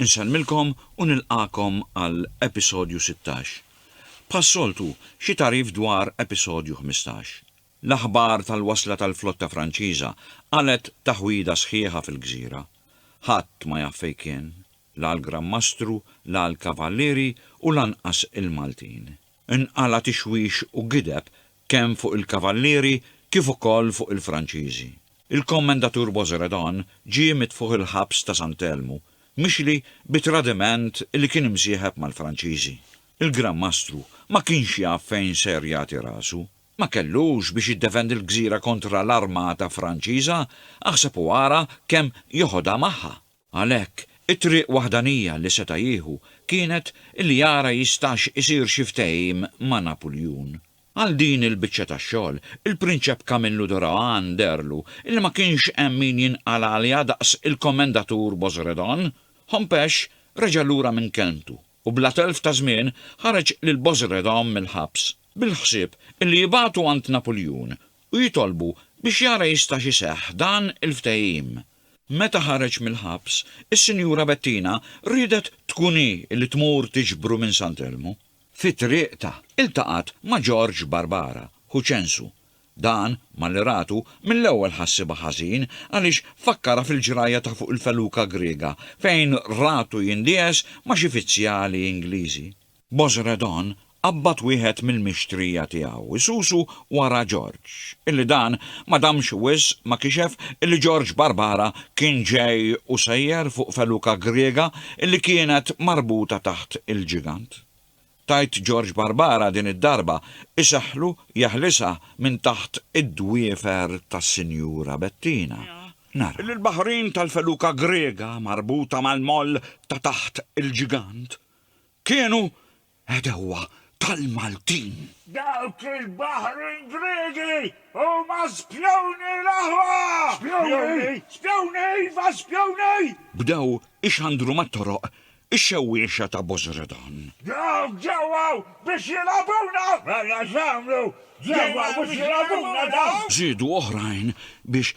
Insellmilkom u nilqagħkom għal episodju sittax. Bħas-soltu, xi tagħrif dwar episodju ħmistax. L-aħbar tal-wasla tal-flotta Franċiża qalgħet taħwida sħiħa fil-gżira. Ħadd ma jaf fejn kien, la l-Gran Mastru, la l-Kavallieri u lanqas il-Maltin. Inqala' tixwix u gideb kemm fuq il-Kavallieri kif ukoll fuq il-Franċiżi. Il-Kommendatur Boisredon ġie mitfugħ il-ħabs ta' San Telmu, mixli bi tradiment li kien imsieħeb mal-Franċiżi. Il-Gran Mastru ma kienx jaf fejn ser jagħti rasu. Ma kellux biex jiddefendi l-gżira kontra l-armata Franċiża, aħseb u ara kemm joħodha magħha! Għalhekk, it-triq waħdanija li seta' jieħu kienet li jara jistax isir xi ftehim ma' Napuljun. Għal din il-biċċa ta' xogħol, il-Prinċep Kamillu Dorawan dehrlu li ma kienx hemm min jinqal' għaliha daqs il-Komendatur Bozredon. Hompesch reġa' lura minn kelmtu u bla telf ta' żmien ħareġ lil Bozredon mill-ħabs, bil-ħsieb li jibgħatu għand Napuljun u jitolbu biex jara jistax iseħħ dan il-ftehim. Meta ħareġ mill-ħabs, is-Sinjura Bettina riedet tkun hi li tmur tiġbru minn San Telmu. Fi triqtha, iltaqgħet ma' George Barbara, ħu Ċensu. Dan, malli ratu, mill-ewwel ħassibha ħażin għaliex fakkarha fil-ġrajja ta' fuq il-feluka Griega fejn ratu jindiegħes ma' xi fizzjali Ingliżi. Bozredon qabbad wieħed mill-mixtrija tiegħu, isusu wara Ġorġ, illi dan ma damx wisq ma kixef illi Ġorġ Barbara kien ġej u sejjer fuq feluka Griega illi kienet marbuta taħt il-ġigant. Tgħid Ġorġ Barbara din id-darba iseħħlu jeħlisha minn taħt id-dwiefer tas-Sinjura Bettina. Nara. Illi l-baħrin tal-feluka Griega marbuta mal-moll ta' taħt il-ġigant kienu għedewwa tal-Maltin. Dawk il-baħrin Griegi huma spjuni l-aħwa! Spjuni? Spjuni, iva spjuni! Bdew ixandru mat-toroq ix-xewwiexa ta' Bosredon. Dawk ġew hawn biex jilgħabuna! Mela x'għamlu? Ġew hawn biex jilgħabuna dawk! Żiedu oħrajn biex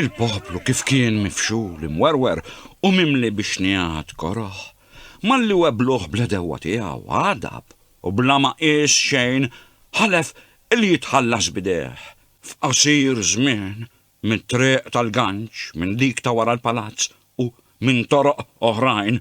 Il-poplu kif kien mifxul, imwerwer u mimli bi xnigħat koroh, malli webbluh bl-għedewwa tiegħu, għadab u bla ma qies xejn ħalef li jitħallas b'idejh f'qasir żmien mit-triq tal-ganċ, minn dik ta' wara l-palazz u minn toroq oħrajn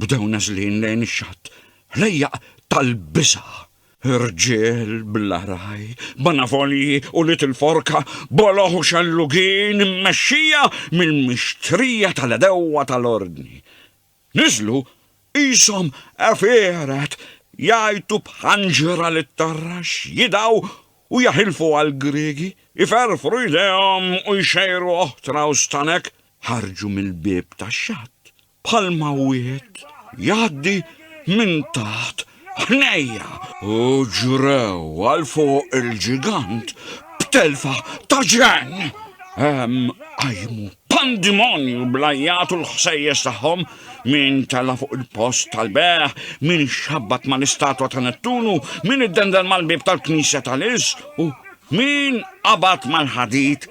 bdew nażlin lejn ix-xatt ħlejjaq tal-biża'. Irġiel bl-għaraj, banavolji u little forka, boloh u xellugin immexxija mill-mixtrija tal-għedewwa tal-Ordni. Niżlu qishom għefieret jgħajtu b'ħanġra lit-tarrax, jidgħu u jaħilfu għall-Griegi, iferrfru jdejhom u jxejru oħtra u stanek, ħarġu mill-bieb tax-xatt bħalma wieħed jgħaddi minn taħt ħnejja u ġrew għal fuq il-ġigant b'telfa ta' ġenn. Hemm qajmu pandimonju blajjat u l-ħsejjes tagħhom min tela fuq il-post tal-beħ, min xabbat mal-istatwa ta' Nettunu, min iddendel mal-bib tal-knisja tal-is u min qabat mal-ħadid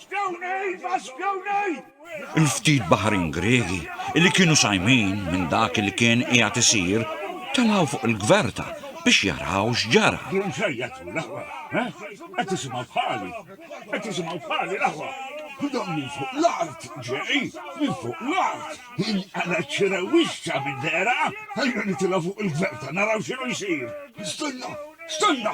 Spjawnej ma' spjawnej! Il-ftit baħrin Griegi li kienu sajmin minn dak li kien qiegħed isir telgħu fuq il-gverta biex jaraw x'ġara. Dun x'għajjatu l-aħwa, ha? Qed tisimgħu bħali? Qed tisimgħu bħali l-aħwa? Dan minn fuq l-art ġej, minn fuq l-art! Inqala' ċ-ċirewixxa minn dehra! Ejja nitilgħu fuq il-gverta naraw x'inhu jsir! Stenna! Stenna!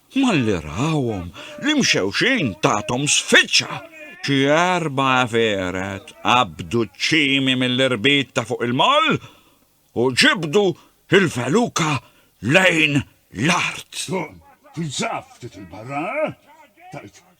Malli rawhom, l-imxewxin tathom sfiċċa. Xi erba' għefieret qabdu ċ-ċimi mill-irbit ta' fuq il-moll u ġibdu l-feluka lejn l-art. Tkun tinsab ftit 'il barra, eh? tgħid.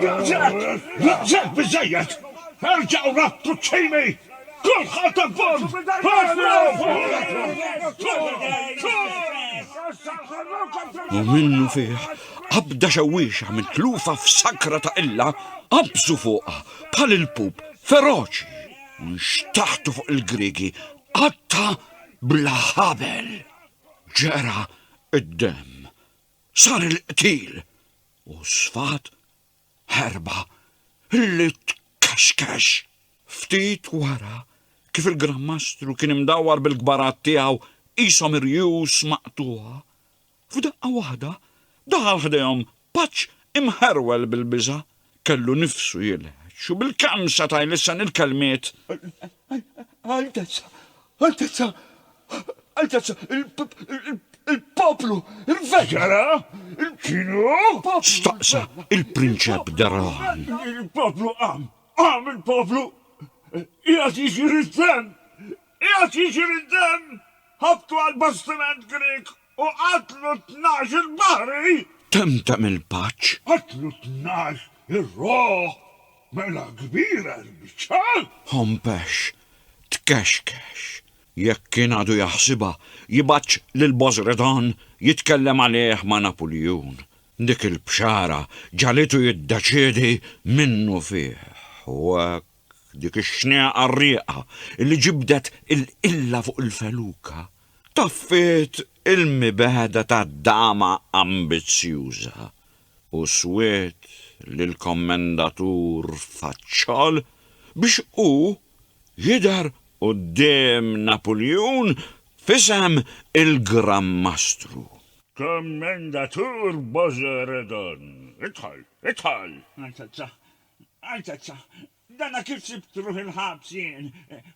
Biżżejjed! Biżżejjed! Biżżejjed! Erġgħu rattu ċ-ċimi! Kulħadd abbond! U minnu fih, qabda xewwiexa mitlufa f'sakra ta' qilla, qabżu fuqha bħal il-pup feroċi u nxtaħtu fuq il-Griegi qatta bla ħabel. Ġera id-demm. Sar il-qtil. U sfat ħerba li tkaxkax. Ftit wara, kif il-Gran Mastru kien imdawwar bil-kbarat tiegħu qishom irjus maqtugħa, f'daqqa waħda daħal ħdejhom paċ imħerwel bil-biża', kellu nifsu jilħeġ u bil-kemm seta' jlissen il-kelmiet, Altezza, Altezza, Altezza, il-poplu, il-vella! X'ġara? X'inhu? Staqsa il-prinċep Daran. Il-poplu qam, qam il-poplu! Qiegħed jiġri d-demm! Qiegħed jiġri d-demm! Ħabtu għall-bastiment Grieg U qatlu t-tnax il-baħri. Temtem il-paċ. Qatlu t-tnax ir-ruħ. Mela kbira l-biċċa. Hompex, tkexkex. Jekk kien għadu jaħsibha, jibgħatx lil Bozredon jitkellem għalih ma' Napuljun. Dik il-bxara ġagħlitu jiddeċiedi minnufih. U hekk. dik ix-xneqa rieqa li ġibdet il-qilla fuq il-feluka, taffiet il-mibegħda ta' dama ambizzjuża u swiet lill-Kommendatur Faċċol biex hu jidher quddiem Napuljun f'isem il-Gran Mastru. Kommendatur Bożeredon, idħol, idħol! Altezza, dana kif sibt ruħi l-ħabs jien?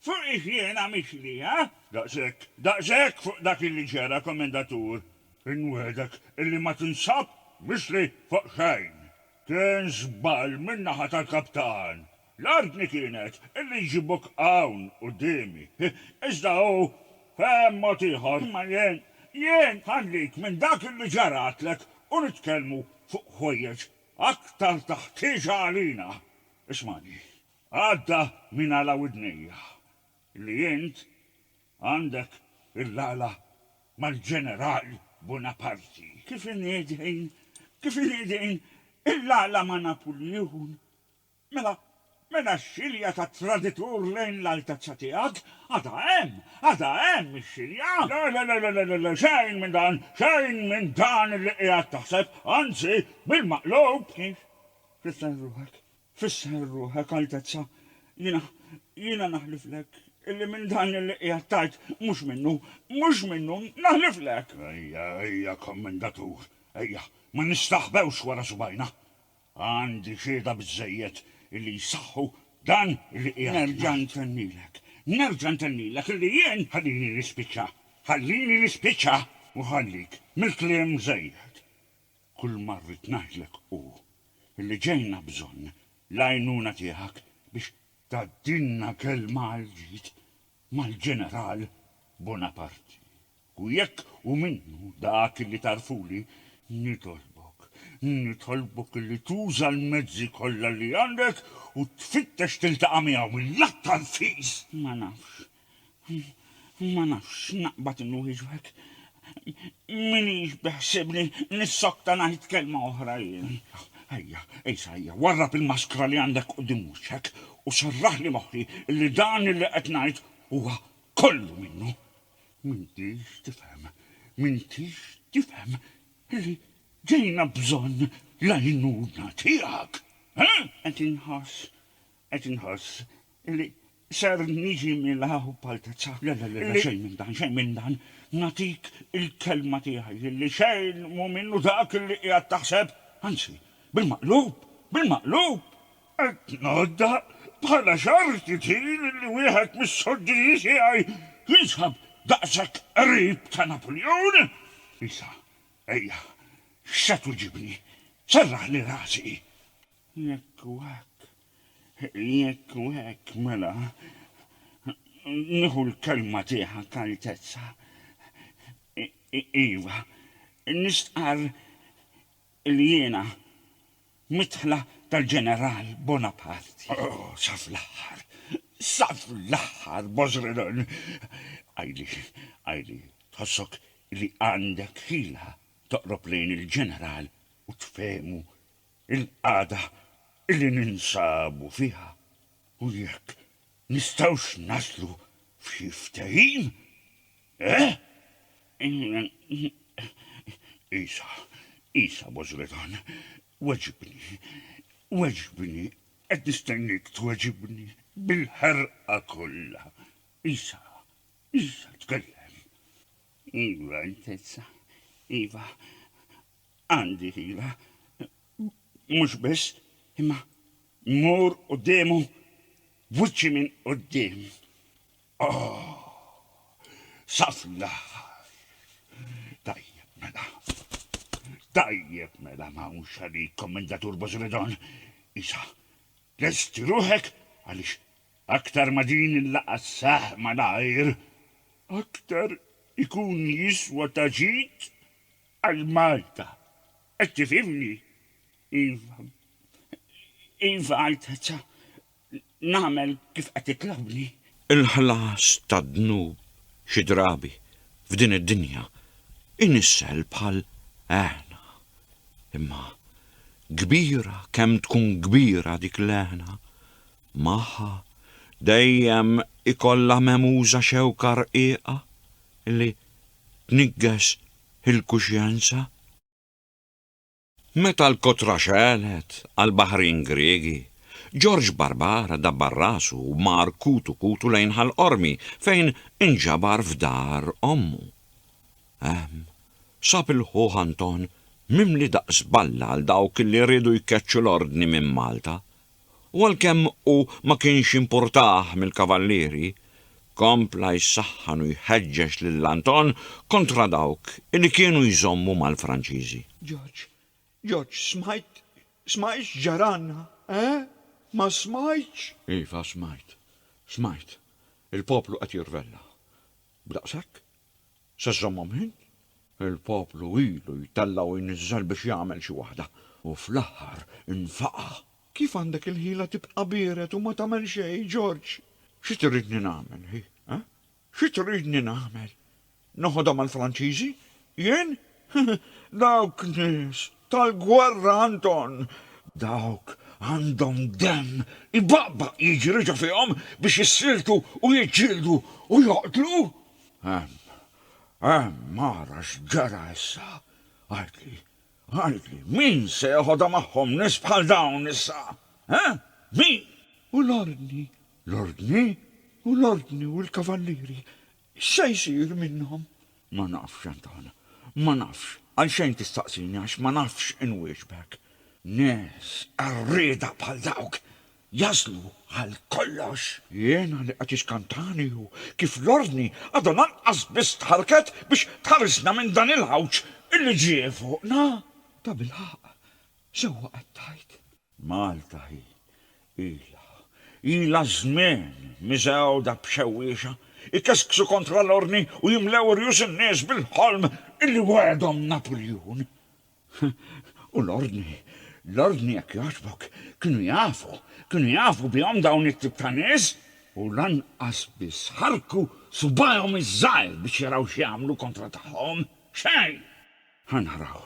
Fuqiex jiena mixli, ha? Daqshekk, daqshekk fuq dak li ġara, Kommendatur! Inwiegħdek illi ma tinsab mixli fuq xejn. Kien żball min-naħa tal-kaptan. L-ordni kienet illi jġibuk hawn quddiemi. Iżda hu fehem mod ieħor. Imma jien, jien ħallik minn dak illi ġaralek u nitkellmu fuq ħwejjeġ Aktar ta' ħtieġa għalina, ismagħni, għadda minn għala widnejja, li int għandek il-għala mal-ġeneral Bunaparti. Kif inhi din, kif inhi din il-għala ma' Napuljun, Mela, mela x-xilja tat-traditur lejn l-Altezza Tiegħek għadha hemm, għadha hemm ix-xilja! Le, le, le, le, le, le, xejn minn dan, xejn minn dan li qiegħed taħseb, anzi, bil-maqlub! Ix, fisser ruħek, fisser ruħek, Altezza, jiena, jiena naħliflek illi minn dan li qiegħed tgħid mhux minnu, mhux minnu, naħliflek! Ejja, ejja, Kommandatur, ejja, ma nistaħbewx wara subgħajna! Għandi xhieda biżżejjed illi jsaħħu dan illi qiegħed ngħid. Nerġa' ntennilek, nerġa' ntennilek illi jien. Ħallini nispiċċa, ħallini nispiċċa! U ħallik mill-kliem mżejjed. Kulma rrid ngħidlek hu illi ġejna bżonn l-għajnuna tiegħek biex. Tgħaddilna kelma għall-ġid mal-Ġeneral Bonaparti. U jekk hu minnu dak li tagħrfuli, nitolbok, nitolbok li tuża l-mezzi kollha li għandek u tfittex tiltaqa' miegħu mill-aktar fis! Ma nafx, ma nafx x'naqbad inwieġbek. M'iniex beħsiebni nissokta ngħid kelma oħra jien. Ejja, Ejsa, ejja, warrab il-maskra li għandek quddiem wiċċek u serraħli moħħi li dan li qed ngħid huwa kollu minnu. M'intix tifhem, m'intix tifhem li ġejna bżonn l-għajnuna tiegħek, ha? Qed inħoss, qed inħoss li ser niġi mila u b'altezza. Le, le, le, le, xejn minn dan, xejn minn dan. Nagħtik il-kelma tiegħi li xejn mhu minnu dak li qiegħed taħseb. Anzi, bil-maqlub, bil-maqlub! Qed ngħodda bħala xorti tqil li wieħed mis-sudditi tiegħi jinsab daqshekk qrib ta' Napuljun. Issa, ejja, x'se twiġibni? Serraħli rasi! Jekk hu hekk, jekk hu hekk, mela, nieħu l-kelma tiegħek, Altezza. Iva, nistqarr Illi jiena midħla tal-Ġeneral Bonaparte. Oh, sa fl-aħħar! Sa fl-aħħar, Bożrenon! Għidli, għidli, tħossok illi għandek ħila toqrob lejn il-Ġeneral u tfehmu l-qagħda illi ninsabu fiha u jekk nistgħux naslu f'xi ftehim? Eh? Għisa, Għisa bożretan, weġibni, weġibni, qed nistenniek tweġibni bil-ħerqa kollha. Għisa, Għisa, tkellem. Iva, Altezza, iva, għandi ħila, mhux biss, imma mmur quddiemu b'wiċċi minn quddiem. Sa fl-aħħar. Tajjeb mela. Tajjeb mela ma hawnx għalik, Kommendatur Bożredon. Issa, lesti ruħek għaliex aktar ma din il-laqgħa sseħħ malajr, aktar ikun jiswa ta' ġid għal Malta. Qed tifhimni? Iva. Iva, Altezza. nagħmel kif qed titlobni. Il-ħlas tad-dnub xi drabi f'din id-dinja inissel bħal għeħna. Imma kbira kemm tkun kbira dik l-għeħna, magħha dejjem ikollha memuża xewka rqiqa li tniggeż il-kuxjenza. Meta l-kotra xegħlet għall-baħrin Griegi, Ġorġ Barbara dabbar rasu u mar kutu kutu lejn Ħal Qormi fejn inġabar f'dar ommu. Hemm, sab il-ħuh Anton mimli daqs balla għal dawk li riedu jkeċċu l-ordni minn Malta, u għalkemm hu ma kienx importah mill-Kavallieri, kompla jsaħħan u jħeġġeġ lil Anton kontra dawk li kienu jżommu mal-Franċiżi. George, George, smajt, smajt x'ġaralna, eh? Ma smajtx? Iva, smajt, smajt. Il-poplu qed jirvella. B'daqshekk? Se żżommhom int? Il-poplu ilu jtella' u jniżżel biex jagħmel xi waħda, u fl-aħħar infaqa'. Kif għandek il-ħila tibqa' biered u ma tagħmel xejn, George? Xi tridni nagħmel, hi? Eh? Xi tridni nagħmel? Noħodha mal-Franċiżi? Jien? Dawk nies tal-gwerra, Anton! Dawk għandhom demm ibaqbaq jiġri ġo fihom biex jissieltu u jiġġieldu u joqtlu! Mara x'ġara issa? Għidli, għidli, min se jeħodha magħhom nies bħal dawn issa? Eh? Min? U l-ordni? L-ordni? U l-ordni u l-kavallieri? X'se jsir minnhom? Ma nafx, Anton. Ma nafx. Għalxejn tistaqsini għax ma nafx inwieġbek. Nies qarrieda bħal dawk Jażlu għal kollox! Jiena li qed iskantani hu kif l-Ordni għadha lanqas biss tħarrket biex tħarisna minn dan il-għawġ li ġie fuqna! Tabilħaqq, sewwa qed tgħid. Malta hi, ilha, ilha żmien miżgħuda b'xewwiexa, ikesksu kontra l-Ordni u jimlew rjus in-nies bil-ħolm li wegħedhom Napuljun. U l-ordni, l-ordni jekk jogħġbok, kienu jafu, kienu jafu bihom dawn it-tip ta' nies? U lanqas biss ħarrku subgħajhom iż-żgħir biex jaraw x'jagħmlu kontra tagħhom? Xejn! Ħa naraw,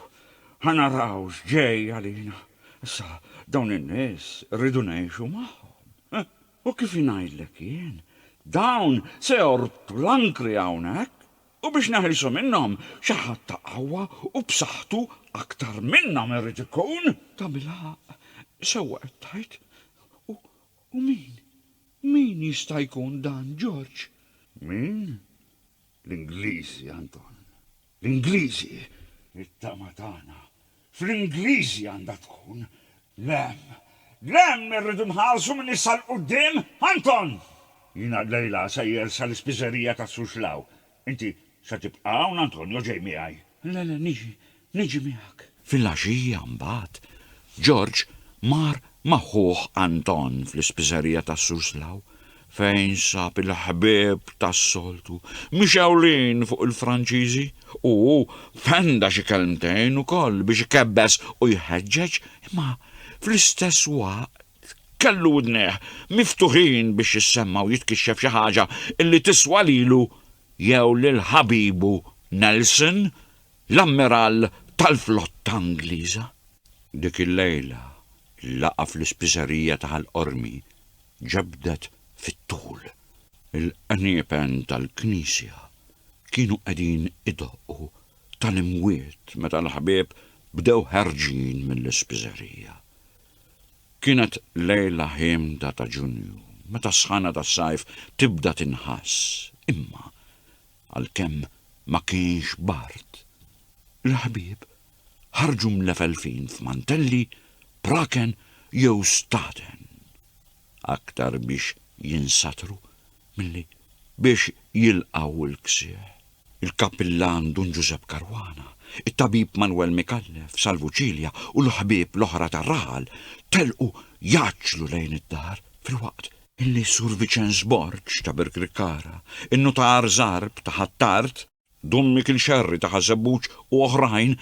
ħa naraw x'ġej għalina. Issa, dawn in-nies irridu ngħixu magħhom. U kif ingħidlek jien, dawn se jorbtu l-ankri hawnhekk U biex neħilsu minnhom, xi ħadd ta' qawwa u b'saħħtu aktar minnhom irid ikun. Ta' mill-ħaqq, sewwa qed tgħid. U, u min, min jista' jkun dan, George? Min? L-Ingliżi, Anton. L-Ingliżi! It-tama tagħna Fl-Ingliżi għandha tkun, Lemm, lemm irridu nħarsu minn issa 'l quddiem! Anton! Jiena llejla sejjer sa l-ispiżerija ta' Suxlaw. Inti se tibqa' hawn Anton jew ġej miegħi? Le, le, niġi, niġi miegħek. Filgħaxija mbagħad, Ġorġ mar ma' ħuh Anton fl-ispiżerija ta' Suxlaw fejn sab il-ħbieb tas-soltu mixewlin fuq il-Franċiżi u fenda xi kelmtejn ukoll biex ikebbes u jħeġġeġ imma fl-istess waqt kellu widnejh miftuħin biex jissemma u jitkixxef xi ħaġa li tiswa lilu jew lil ħabibu Nelson, l-ammirall tal-flotta Ingliża. Dik il-lejla laqa' fl-ispiżerija ta' Ħal Qormi ġebdet fit-tul. Il-qniepen tal-knisja kienu qegħdin idoqqu tal-imwiet meta l-ħbieb bdew ħerġin mill-ispiżerija. Kienet lejla ħiemda ta' Ġunju, meta s-sħana tas-sajf tibda tinħass, imma għalkemm ma kienx bard, il-ħbieb ħarġu mlefelfin f'mantelli, praken jew staten, aktar biex jinsatru milli biex jilqgħu l-ksieħ. Il-Kappillan Dun Ġużepp Caruana, it-Tabib Manwel Micallef, Salvu Cilia u l-ħbieb l-oħra tar-raħal telqu jgħaġġlu lejn id-dar filwaqt li Sur Viċenż Borg ta' Birkirkara, in-Nutar Żarb ta' Ħ'Attard, Dun Mikiel Scerri ta' Ħaż-Żebbuġ u oħrajn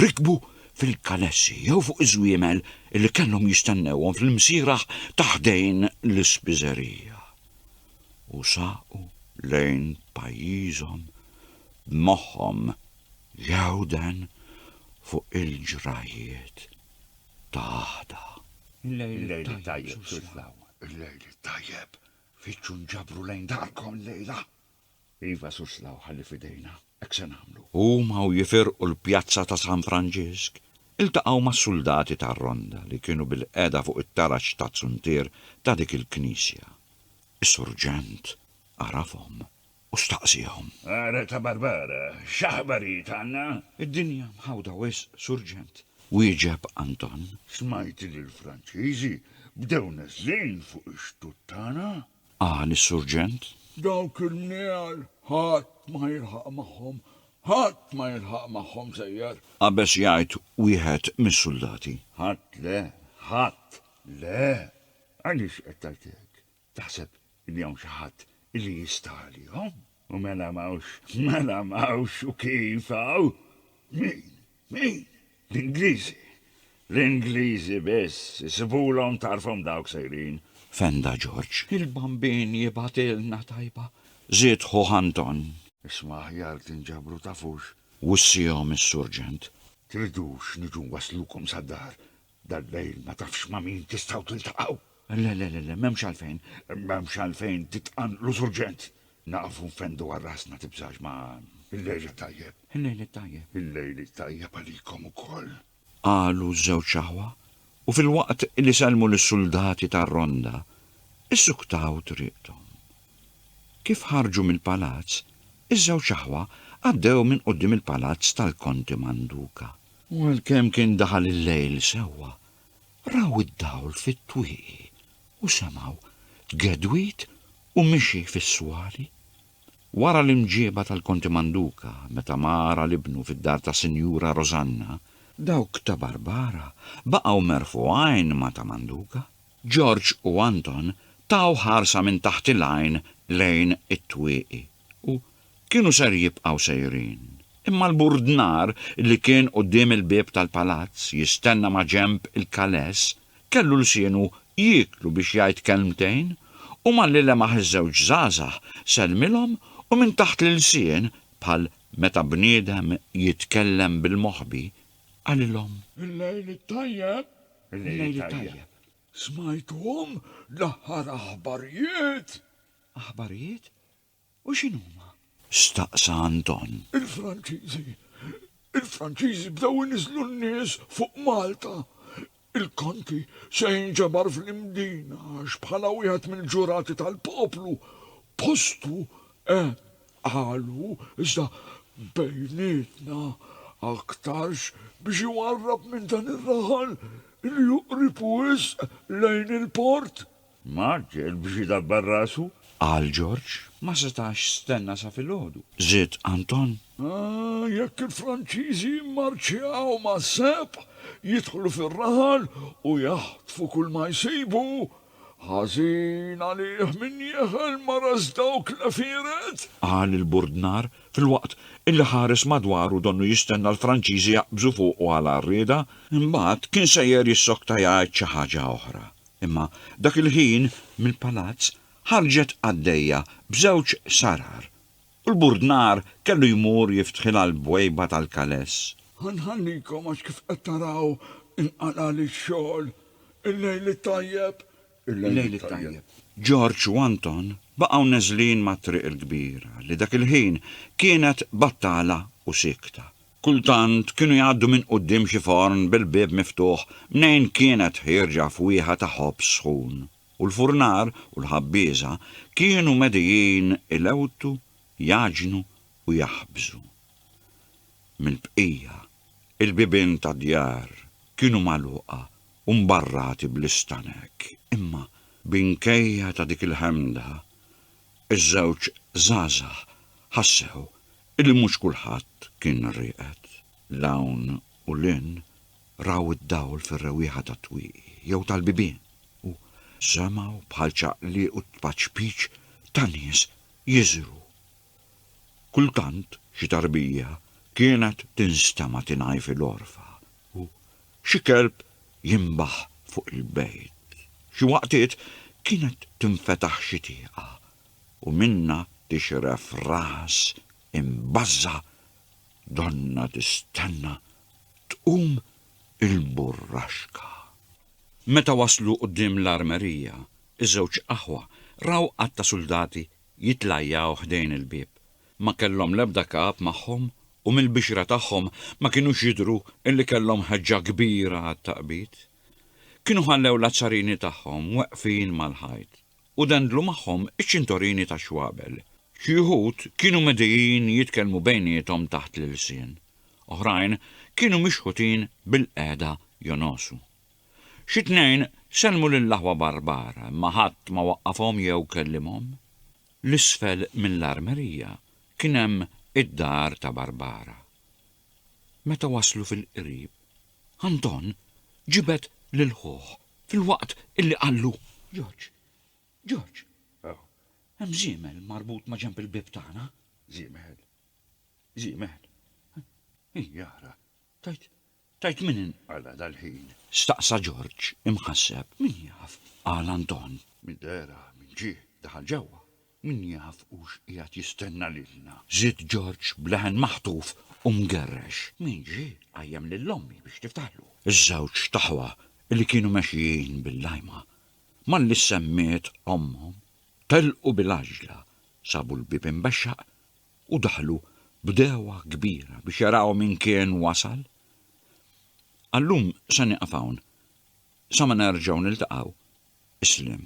rikbu fil-kanessi jew fuq iż-żwiemel li kellhom jistennewhom fl-imsieraħ ta' ħdejn l-ispiżerija u saqu lejn pajjiżhom b'moħħhom jgħewden fuq il-ġrajjiet ta' għada. Il-lejl it-tajjeb, Sur Slaw. Il-lejl it-tajjeb. Fittxu nġabru lejn darkom illejla. Iva, Sur Slaw, ħalli f'idejna. Hekk se nagħmlu. Huma u jifirqu l-pjazza ta' San Franġisk, iltaqgħu mas-suldati tar-Ronda li kienu bilqiegħda fuq it-taraġ taz-zuntier ta' dik il-knisja. Is-surġent għarafhom u staqsiehom. Ara ta' Barbara, x'aħbarijiet għandna? Id-dinja mħawda wisq, surġent, wieġeb Anton. Smajt li l-Franċiżi bdew neżlin fuq ix-xtut tagħna? qal is-Surġent. Dawk in-nigħal ħadd ma jilħaq magħhom, ħadd ma jilħaq magħhom, sejjer! qabeż jgħid wieħed mis-suldati. Ħadd le, ħadd le! Għaliex qed tgħid hekk? Taħseb li hawn xi ħadd li jista' għalihom? U mela m'hawnx, mela m'hawnx u kif hawn? Min? Min? L-Ingliżi? L-Ingliżi biss, isibulhom tarfhom dawk sejrin! fenda Ġorġ. Il-Bambin jibgħatilna tajba, żied ħuh Anton. Isma' aħjar tinġabru tafux. Wissihom is-Surġent. Tridux niġu nwasslukom sad-dar? Dal-lejl ma tafx ma' min tistgħu tiltaqgħu. Le, le, le, m'hemmx għalfejn. M'hemmx għalfejn titqanqlu surġent. Naqfu nfendu għal rasna tibżax ma. Il-lejl it-tajjeb. Il-lejl it-tajjeb. Il-lejl it-tajjeb għalikom ukoll. Qalu ż-żewġ aħwa u filwaqt li sellmu lis-suldati tar-ronda, issuktaw triqthom. Kif ħarġu mill-palazz, iż-żewġ aħwa għaddew minn quddiem il-palazz tal-Konti Manduka. U għalkemm kien daħal il-lejl sewwa, raw id-dawl fit-twieqi u semgħu tgedwid u mixi fis-swali. Wara l-imġieba tal-Konti Manduca meta mar għal ibnu fid-dar ta' Sinjura Rosanna, dawk ta' Barbara baqgħu merħfu għajn ma' ta' Manduca. George u Anton taw ħarsa minn taħt il-għajn lejn it-twieqi. u kienu ser jibqgħu sejrin. Imma l-burdnar li kien quddiem il-bieb tal-palazz jistenna maġenb il-kaless kellu lsienu jieklu biex jgħid kelmtejn u malli lemaħ iż-żewġ żgħażagħ sellmilhom u minn taħt l-ilsien bħal meta bniedem jitkellem bil-moħbi qalilhom. Il-lejl it-tajjeb! Il-lejl it-tajjeb! Smajthom l-aħħar aħbarijiet? Aħbarijiet? U x'inhuma? staqsa Anton. Il-Franċiżi. Il-Franċiżi bdew iniżżlu n-nies fuq Malta. Il-Konti se jinġabar fl-Imdina għax bħala wieħed mill-ġurati tal-poplu postu eh qalu iżda bejnietna aktarx biex iwarrab minn dan ir-raħal li juqrib wisq lejn il-port. Mark, biex idabbar rasu. Qal Ġorġ. Ma setax stenna sa filgħodu. Żied Anton. Ah, jekk il-Franċiżi jimmarċjaw mas-sebħ, jidħlu fir-raħal u jaħtfu kulma jsibu, ħażin għalih min jeħel ma ras dawk l-għefieret! Qal il-burdnar, filwaqt illi ħares madwaru donnu jistenna l-Franċiżi jaqbżu fuqu għal għarrieda. Imbagħad kien sejjer jissokta jgħid xi ħaġa oħra. Imma dak il-ħin mill-palazz ħarġet qaddejja b'żewġ sarar, u l-burdnar kellu jmur jiftħilha l-bwejba tal-kaless. Ħa nħallikom għax kif qed taraw inqalagħli x-xogħol. Il-lejl it-tajjeb! Il-lejl it-tajjeb! Ġorġ u Anton baqgħu neżlin mat-triq il-kbira li dak il-ħin kienet battala u siekta. Kultant kienu jgħaddu minn quddiem xi forn bil-bieb miftuħ mnejn kienet ħierġa fwieħa ta' ħobż sħun, u l-furnar u l-ħabbieża kienu medijin ilewtu, jgħaġnu u jaħbżu. Mill-bqija, il-bibien tad-djar kienu magħluqa u mbarrati bl-istanek. Imma, binkejja ta' dik il-ħemda, iż-żewġ żgħażagħ ħassew Illi mhux kulħadd kien rieqed. 'l hawn u 'l hinn, raw id-dawl fir-rewwieħa tat-twieqi jew tal-bibien u semgħu bħal ċaqliq u tpaċpiċ ta' nies jiżru. Kultant xi tarbija kienet tinstema' tingħi fil-għorfa u xi kelb jinbaħ fuq il-bejt. Xi waqtiet kienet tinfetaħ xi tieqa u minnha tixref ras imbażża' donnha tistenna tqum il-burraxka. Meta waslu quddiem l-armerija, iż-żewġ aħwa raw għadd ta' suldati jitlajjaw ħdejn il-bieb. Ma kellhom l-ebda kap magħhom u mill-bixra tagħhom ma kinux jidhru illi kellhom ħeġġa kbira għat-taqbid. Kienu ħallew l-azzarini tagħhom weqfin mal-ħajt u dendlu magħhom iċ-ċintorini tax-xwabel. Xi wħud kienu medijin jitkellmu bejniethom taħt l-ilsien, oħrajn kienu mixħutin bilqiegħda jonosu. Xi tnejn sellmu lill-aħwa Barbara imma ħadd ma waqqafhom jew kellimhom. L isfel minn l-armerija kien hemm id-dar ta' Barbara. Meta waslu fil-qrib, Anton ġibed lil ħuh filwaqt illi qallu, Ġorġ, Ġorġ, hemm żiemel marbut ma' ġenb il-bieb tagħna. Żiemel? Żiemel? Hi ara, tajt, tajt min inqala' dal-ħin? Staqsa Ġorġ imħasseb. Min jaf? qal Anton. Minn dehra, minn ġie, daħal ġewwa. Min jaf hux qiegħed jistenna lilna? żied Ġorġ b'leħen maħtuf u mgerrex. Min ġie qajjem lil ommi biex tiftaħlu? Iż-żewġ t'aħwa li kienu mexjin bil-lajma, malli semmiet ommhom, telqu bil-għaġġla, sabu l-bieb imbexxaq u daħlu b'degħwa kbira biex jaraw min kien wasal. Għal-lum se nieqaf hawn, sa ma nerġgħu niltaqgħu, isliem.